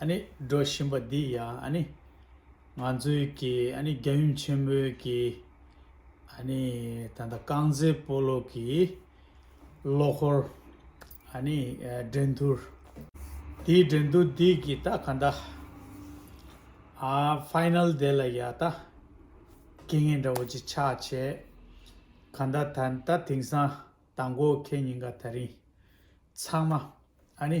ཨ་ནི་སྒྲོག་བཞིན་པ་འདི་ཡང་ཨ་ནི། ང་ཚོའི་གི་ཨ་ནི་རྒྱ་ཡུམ་ཆེན་པོའི་གི་ཨ་ནི་ད་ལྟ་རྐང་རྩེད་སྤོ་ལོ་གི་ལོ་འཁོར་ཨ་ནི་འགྲན་སྡུར། དེའི་འགྲན་སྡུར་འདི་གི་ད་ག་ད་ཨ Final དེ་ལ་ཡ་ད་དགེ་ངན་འདྲ་བོ་ཅིག་ཆགས་བྱས། ག་ད་ད་ད་དེང་སང་ད་མགོ་ཁེ་ཉིན་ག་ད་རིང་ཚང་མ་ཨ་ནི་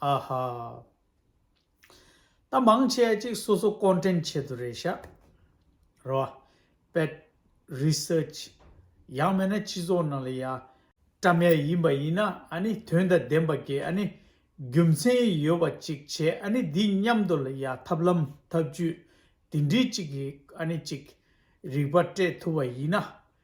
ཨ་ཧ། ད་མང་ཆེ་གཅིག་སོ་སོ་ཀོན་ཀྲེན་ཆེད་དུ་རེད་ཤག་རོ། པད། Research། ཡག་མེད་ན་སྤྱི་ཚོགས་ནང་ལ་ཡ། བཀྲ་མེད་ཡིན་པ་ཡིན་ན་ཨ་ནི་དོན་དང་ལྡན་པ་དགེ་ཨ་ནི། རྒྱུ་མཚན་ཡོད་པ་ཅིག་བྱས་ཨ་ནི་འདི་མཉམ་དུ་ལ་ཡ་ཐབས་ལམ་ཐབས་བྱུས་དེ་འདྲི་གཅིག་གིས་ཨ་ནི་ཅིག། རིག་པ་སྤྲད་ཐུབ་པ་ཡིན་ན།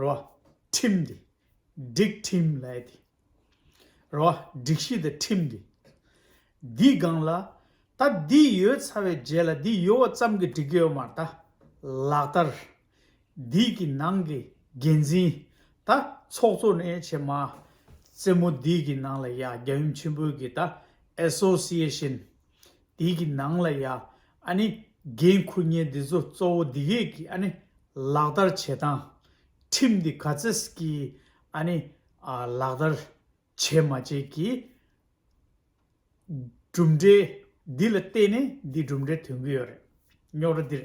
རོ། ཁྲིམས་འདི། སྒྲིག་ཁྲིམས་ལས་འདི། རོ། སྒྲིག་གཞི་དང་ཁྲིམས་འདི། འདི་སྒང་ལ། ད་འདི་ཡོད་ཚར་བའི་རྗེས་ལ་འདི་ཡོད་བ་ཙམ་གྱི་སྒྲིག་གི་ཡོད་མ་རེད་ད། ལག་བསྟར། འདི་གི་ནང་གི་འགན་འཛིན། ད་ཚོགས་གཙོ་ནས་བྱེད་མ། རྩེ་མོ་འདི་གི་ནང་ལ་ཡ་རྒྱ་ཡུམ་ཆེན་པོའི་གི་ད Association། དེ་གི་ནང་ལ་ཡ་ཨ་ནི་འགན་འཁུར་ཉེས་འདི་ཚོ་གཙོ་བོ་འདི་གས་གི་ཨ་ནི་ལག་བསྟར་བྱེད་སྟངས་ཁྲིམས་འདི་ག་ཚེས་གི་ཨ་ནི་ལག་བསྟར་བྱེད་མ་བྱེད་གི་གྲུབ་འབྲས་འདི་ལ་བལྟས་ནས་འདི་གྲུབ་འབྲས་ཐོན་གི་ཡོད་རེད་རྙོག་དྲ་འདིར།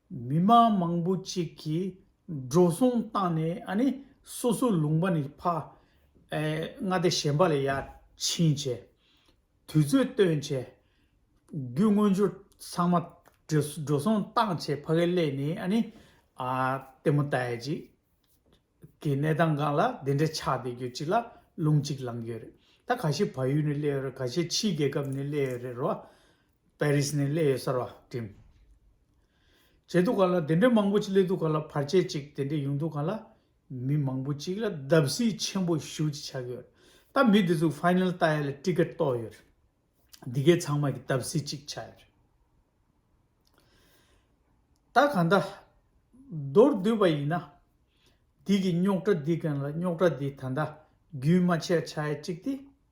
མི་དམངས་མང་པོ་ཅིག་གིས་འགྲོ་སོང་བཏང་ནས་ནི་སོ་སོའི་ལུང་པ་ནས་ཕ། ཨེ། མངའ་སྡེ་གཞན་པ་ལ་ཡར་ཕྱིན་བྱས། དུས་ཚོད་བཏོན་བྱས། རྒྱུ་དངོས་ཅུར་ཚང་མ་འགྲོ་སོང་བཏང་བྱས་ཕ་གི་སླད་ནས་ནི། ལྟད་མོ་ལྟ་ཡས་ཅིག་གི་གནས་སྟངས་གང་ལ་དེ་འདྲ་ཆགས་བསྡད་ཡོད་ཅིག་ལ་ལུང་ཅིག་ལངས་ཡོད་རེད། ད་ག་ཤེད་བལ་ཡུལ་ནས་སླད་ཡོད་རེད་ག་ཤེད་ཕྱིའི་རྒྱལ་ཁབ་ནས་སླད་ཡོད་རེད་རོ། པའི་རིས་ནས་སླེ་ཡོད་གསར་བ་འགྲིམ། བྱེད་འདུག་ག་ལ་དེ་འདྲའི་མང་པོ་ཅིག་སླེ་འདུག་ག་ལ་བར་ཆད་ཅིག་དེ་འདྲས་ཡོང་འདུག་ག་ལ། མི་མང་པོ་ཅིག་ལ་བརྡབ་གསིག་ཆེན་པོ་ཞུ་ཅིག་ཆགས་ཡོད། ད་མི་དེ་ཚོས Final བལྟ་ཡ་ལ Ticket གཏོགས་ཡོད། འདི་གའི་ཚང་མ་གི་བརྡབ་གསིག་ཅིག་ཆགས་ཡོད། ད་གང་ལྟ། མདོར་བསྡུས་པ་ཡིན་ན། འདི་གི་རྙོག་དྲ་འདི་གང་ལ་རྙོག་དྲ་འདི་ད་ལྟ་རྒྱུན་མ་ཆད་ཆགས་ཡ་ཅིག་སྟེ།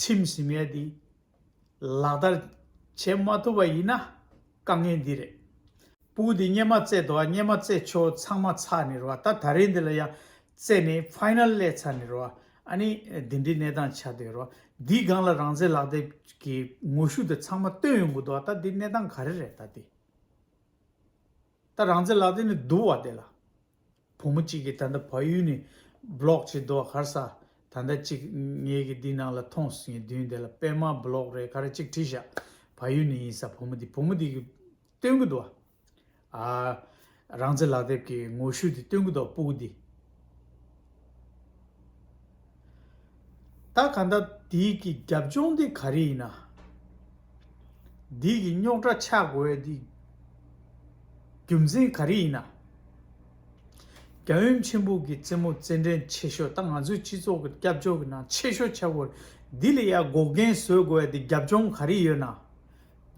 ཁྲིམས་ཞིབ་གནས་འདི་ལག་བསྟར་བྱེད་མ་ཐུབ་པ་ཡིན་ན་དཀའ་ངལ་འདི་རེད། སྤུ་འདི་སྙེ་མ་བཙལ་དོ་སྙེ་མ་བཙལ་ཆོག་ཚང་མ་ཚར་ནས་རོ་ཨ་ད་ད་རེས་འདི་ལ་ཡང་བཙལ་ནས Final གླས་ཚར་ནས་རོ་ཨ་ཨ་ནི་འདི་འདྲའི་གནས་སྟངས་ཆགས་སྡོད་རོ་འདིའི་སྒང་ལ་རང་བཙན་ལག་དེབ་ཀྱི་ངོ་ཤུགས་དེ་ཚང་མ་བཏོན་ཡོང་གི་འདུག་ཨ་ད་འདི་གནས་སྟངས་ག་རེ་རེད་ད་འདི་ད་རང་བཙན་ལག་དེབ་ནི་བསྡུར་བ་དེ་ལ་བུ་མོ་གཅིག་གིས་ད་ལྟ་བལ་ཡུལ་ནས Blog བྱེད་འདུག་གར་ས། ད་ལྟ་གཅིག་ངེད་ཀྱི་འདི་ནང་ལ་ཐོངས་ངེད་བདུན་དེ་ལ་པད་མ Blog རེད་ག་རེ་གཅིག་བྲིས་བཞག་བལ་ཡུལ་ནས་ཡིན་ས་བུ་མོ་འདི་བུ་མོ་འདི་གིས་སྟོན་གྱི་འདུག་ཨ། རང་བཙན་ལག་དེབ་ཀྱི་ངོ་བཤུས་འདི་སྟོན་གྱི་འདུག་སྤུ་གུ་འདི། ད་ག་ད་འདི་གི་རྒྱབ་ལྗོངས་འདི་ག་རེ་ཡིན་ན། འདི་གི་རྙོག་དྲ་ཆགས་དགོས་པའི་འདི་རྒྱུ་མཚན་ག་རེ་ཡིན་ན། རྒྱ་ཡུམ་ཆེན་པོ་གི་རྩེད་མོ་རྩེད་འགྲན་ཆེ་ཤོས་ད་ང་ཚོའི་སྤྱི་ཚོགས་ཀྱི་སྐྱབས་བཅོལ་གྱི་ནང་ཆེ་ཤོས་ཆགས་དགོས་འདི་ལ་ཡར་འགོག་རྐྱེན་བཟོས་དགོས་པའི་འདི་རྒྱབ་ལྗོངས་ག་རེ་ཡོད་ན།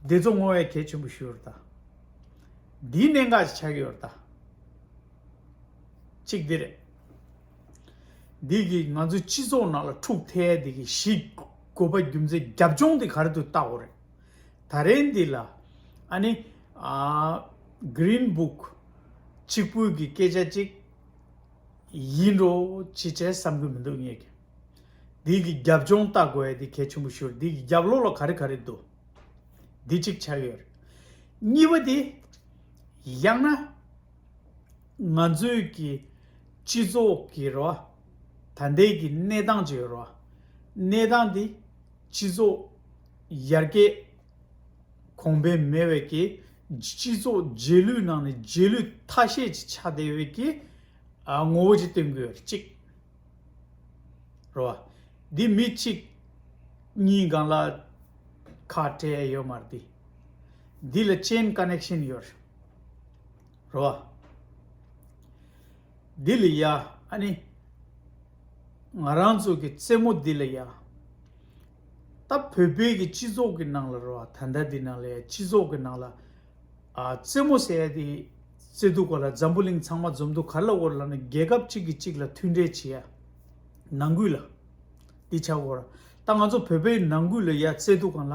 འདི་ཚོ་སྔོན་བས་གལ་ཆེན་པོ་ཞུ་རུ་ད། འདིའི་གནད་འགག་ཅིག་ཆགས་ཡོད་རུ་ད། གཅིག་འདི་རེད། འདི་གིས་ང་ཚོའི་སྤྱི་ཚོགས་ནང་ལ་འཁྲུག་ཐལ་འདི་གིས་གཞིས་དགོས་པ་རྒྱུ་མཚན་རྒྱབ་ལྗོངས་འདི་ག་རེ་དུ་བལྟ་འོ་རེད་ད་རེས་འདི་ལ་ཨ་ནི Green Book གཅིག་པུའི་གི་སྐད་ཆ་གཅིག་ཡིན་འགྲོ་ཅི་བྱས་བསམ་གི་མི་འདུག་ངེད་ཀྱི་འདི་གི་རྒྱབ་ལྗོངས་བལྟ་དགོས་ཡ་འདི་གལ་ཆེན་པོ་ཤོར་འདི་གི་རྒྱབ་ལོགས་ལ་ག་རེ་ག་རེ་འདུག་འདི་གཅིག་ཆ་ཡོད་རེད་གཉིས་པ་འདི་ཡང་ན། ང་ཚོས་ཀྱི་སྤྱི་ཚོགས་ཀྱི་རེ་བ། ད་ལྟའི་གི་གནས་སྟངས་ཀྱི་རེ་བ། གནས་སྟངས་འདི་སྤྱི་ཚོགས་ཡར་རྒྱས་གོང་འཕེལ་མེད་བས་ཀྱི་སྤྱི་ཚོགས་རྗེས་ལུས་ནང་ནས་རྗེས་ལུས་ཐ་ཤལ་གྱི་ཆགས་བསྡད་བས་ཀྱི་ངོ་བོ་ཅིག་བསྟན་དགོས་གཅིག་རེ་བ། འདི་མི་གཅིག་གཉིས་སྒང་ལ་ཁ་བྲལ་ཡོད་མ་རེད། འདི་ལ་ཅན་ཀ་ནེག་ཤན་ཡོད་རེད། རོ། འདི་ལ་ཡ་ཨ་ནི། ང་རང་ཚོ་གི་རྩེད་མོ་འདི་ལ་ཡ། ད་བོད་པའི་གི་སྤྱི་ཚོགས་གི་ནང་ལ་རོ་ཨ་ད་ཟླ་འདི་ནང་ལ་ཡ་སྤྱི་ཚོགས་གི་ནང་ལ། རྩེད་མོ་ཟེར་ཡ་དེ་རྩེ་འདུག་ག་ལ་འཛམ་བུ་གླིང་ཚང་མ་འཛོམས་འདུག་ག་ལ་འོར་ལ་ནི་རྒྱལ་ཁབ་གཅིག་གི་གཅིག་ལ་མཐུན་འབྲེལ་བྱེད་ཡ། ནང་ཁུལ་ལ། འདི་ཆ་གོ་ར། ད་ང་ཚོ་བོད་པའི་ནང་ཁུལ་ལ་ཡ་རྩེ་འདུག་ག་ལ།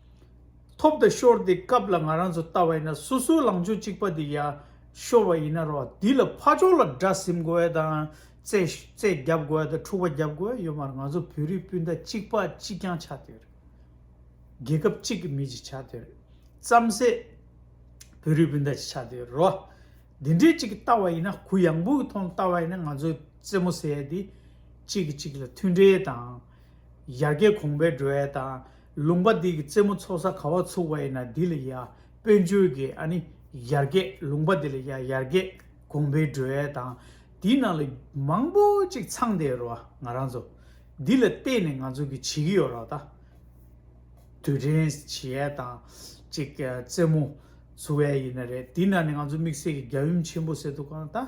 ཐོབ་དང་ཤོར་དེ་སྐབས་ལ་ང་རང་ཚོ་ལྟ་བ་ཡིན་ན་སོ་སོའི་ལང་ཕྱོགས་གཅིག་པ་དེ་ཡར་ཤོར་བ་ཡིན་ན་རོགས་དེ་ལ་ཕ་ཕྱོགས་ལ་དགྲ་ཟིམ་དགོས་ཡ་དང་རྩད་བརྒྱབ་དགོས་ཡ་དང་འཁྲུག་པ་བརྒྱབ་དགོས་ཡ་ཡོད་མ་རེད་ང་ཚོ་བོད་རིགས་སྤུན་ཟླ་གཅིག་པ་གཅིག་རྐྱང་ཆགས་དེ་རེད། རྒྱལ་ཁབ་གཅིག་གི་མི་གཅིག་ཆགས་དེ་རེད། རྩམ་ཟད་བོད་རིགས་སྤུན་ཟླ་གཅིག་ཆགས་དེ་རོགས། དེ་འདྲའི་གཅིག་གི་ལྟ་བ་ཡིན་ན་གུ་ཡངས་པོ་གི་ཐོག་ནས་ལྟ་བ་ཡིན་ན་ང་ཚོའི་རྩེད་མོ་ཟེར་ཡ་དེ་གཅིག་གིས་གཅིག་ལ་མཐུན་འབྲེལ་དང། ཡར་རྒྱས་གོང་འཕེལ་འགྲོ་ཡ་དང་ལུང་པ་འདི་གི་རྩེ་མོ་ཚོགས་ས་ག་བ་ཚུགས་པ་ཡིན་ན་འདི་ལ་ཡ་དཔོན་ཆོས་ཀྱི་ཨ་ནི་ཡར་རྒྱས་ལུང་པ་འདི་ལ་ཡ་ཡར་རྒྱས་དགོངས་པའི་སྒྲོལ་བ་དང་འདི་ནང་ལ་མང་པོ་ཅིག་ཚང་བསྡད་རོ་ང་རང་ཚོ་འདི་ལ་བལྟས་ནས་ང་ཚོ་གི་བྱེད་ཀྱི་ཡོད་རོགས་ད་དུས་དྲན་བྱེད་ཡས་དང་ཅིག་རྩེ་མོ་ཚུགས་ཡས་ཡིན་ན་རེད་འདི་ནང་ནས་ང་ཚོ་དམིགས་བསལ་གྱི་རྒྱ་ཡུམ་ཆེན་པོ་ཟེར་འདུག་གང་ལྟ།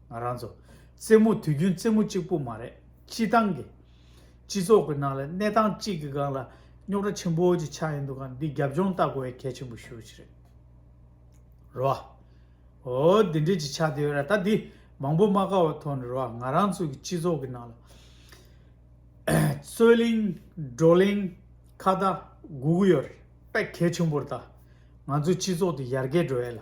ང་རང་ཚོ་རྩེད་མོ་དུས་རྒྱུན་རྩེད་མོ་གཅིག་པོ་མ་རེད་སྤྱི་བཏང་གི། སྤྱི་ཚོགས་ཀྱི་ནང་ལ་གནས་སྟངས་གཅིག་གི་སྒང་ལ་རྙོག་དྲ་ཆེན་པོ་གཅིག་ཆགས་ཡིན་འདུག་ག་འདི་རྒྱབ་ལྗོངས་ལྟ་དགོས་ཡ་གལ་ཆེན་པོ་ཤོས་ཅིག་རེད། རེད་བ། ཨོ་འདི་འདྲས་ཅིག་ཆགས་དེ་ཡོད་ར་ད་འདི་མང་པོ་སྨྲ་དཀའ་བའི་ཐོག་ནས་རེད་བ་ང་རང་ཚོ་གི་སྤྱི་ཚོགས་ཀྱི་ནང་ལ། རྩོད་གླེང་བགྲོ་གླེང་ཁ་བརྡ་དགུ་དགུ་ཡོད་རེད་པས་གལ་ཆེན་པོ་རེད་ད་ང་ཚོའི་སྤྱི་ཚོགས་དེ་ཡར་རྒྱས་འགྲོ་ཡས་ལ།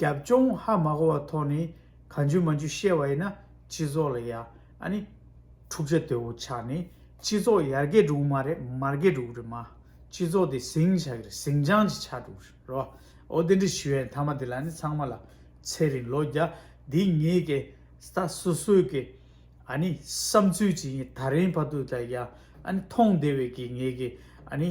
རྒྱབ་ལྗོངས་ཧ་མ་གོ་བ་ཐོག་ནས་ག་འཇུ་མ་འཇུ་བཤད་བ་ཡིན་ན་སྤྱི་ཚོགས་ལ་ཡ་ཨ་ནི། འཁྲུག་ཆ་དོད་བོ་ཆགས་ནས་སྤྱི་ཚོགས་ཡར་རྒྱས་འགྲོ་གི་མ་རེད་མར་རྒྱས་འགྲོ་གི་རེད་མ་སྤྱི་ཚོགས་དེ་ཟིང་ཆ་གི་རེད་ཟིང་ཆང་ཅིག་ཆགས་འགྲོ་གི་རེད་རོ་ཨོ་དེ་འདྲའི་ཞུ་བའི་མཐའ་མ་དེ་ལ་ནི་ཚང་མ་ལ་ཚེ་རིང་ལོ་བརྒྱ་འདི་ངེས་ཀྱི་ད་སོ་སོའི་གི་ཨ་ནི་བསམ་ཚུལ་ཅིག་ཡིན་ད་རིང་བར་དུ་ད་ཡ་ཨ་ནི་མཐོང་བདེ་བའི་གི་ངེས་གི་ཨ་ནི།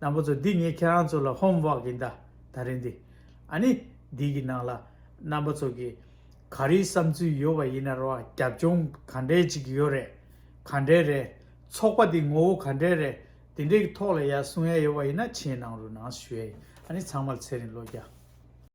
ནང་པ་ཚོ་འདི་ངས་ཁྱེད་རང་ཚོ་ལ་ཧོམ་བག་གིན་ད་ད་རེད་འདི་ཨ་ནི་འདི་གི་ནང་ལ་རྣམ་པ་ཚོ་གི་ག་རིའི་བསམ་ཚུལ་ཡོད་བ་ཡིན་ན་རོ་རྒྱབ་ལྗོངས་ག་འདྲའི་ཅིག་ཡོད་རེད་ག་འདྲའི་རེད་ཚོགས་པ་འདི་ངོ་བོ་ག་འདྲའི་རེད་འདི་འདྲའི་གི་ཐོག་ལ་ཡ་གསུང་ཡ་ཡོད་བ་ཡིན་ན་ཆེས་ནང་རུ་ནང་ཞུ་ཡ་ཡིན་ཨ་ནི་ཚང་མར་ཚེ་རིང་བློ་རྒྱ།